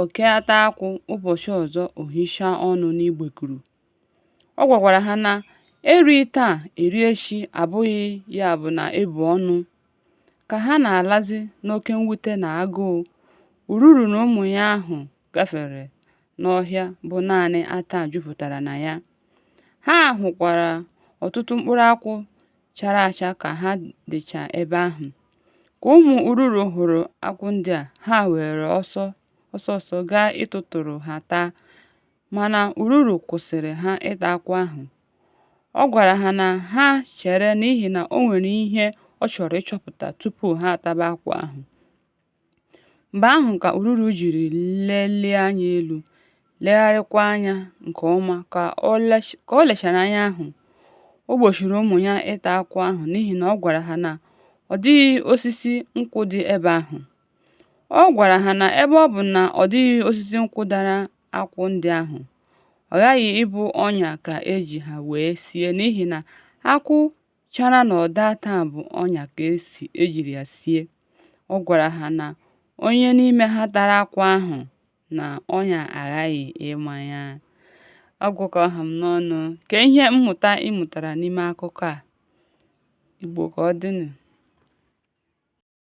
Oke ata akwụ, ụbọchị ọzọ o hichaa ọnụ n'igbekuru. Ọ gwakwara ha na e rie taa, e rie echi abụghị ya bụ na e bu ọnụ. Ka ha na-alazi n'oke mwute na agụụ, ururu na ụmụ ya ahụ gafere n'ọhịa bụ naanị ata jupụtara na ya. Ha hụkwara ọtụtụ mkpụrụ akwụ chara acha ka ha dịcha ebe ahụ. Ka ụmụ ururu hụrụ akwụ ndị a, ha were ọsọ ọsọ gaa ịtụtụrụ ha taa, mana ururu kwụsịrị ha ịta akwụ ahụ. Ọ gwara ha na ha chere n'ihi na o nwere ihe ọ chọrọ ịchọpụta tupu ha ataba akwụ ahụ. Mgbe ahụ ka Ururu jiri lelie anya elu, legharịakwa anya nke ọma ka o lechara anya ahụ, o gbochiri ụmụ ya ịta akwụ ahụ n'ihi na ọ gwara ha na ọ dịghị osisi nkwụ dị ebe ahụ. Ọ gwara ha na ebe ọ bụ na ọ dịghị osisi nkwụ dara akwụ ndị ahụ, ọ ghaghị ịbụ ọnya ka e ji ha wee sie n'ihi na akwụ chara n'ọdọ ata bụ ọnya ka esi ejiri ya sie. Ọ gwara ha na onye n'ime ha tara akwụ ahụ na ọnya aghaghị ịma ya. Ọ gwụ ka ọ ha m n'ọnụ. Kee ihe mmụta ị mụtara n'ime akụkọ a? Igbo ka ọ dịnụ.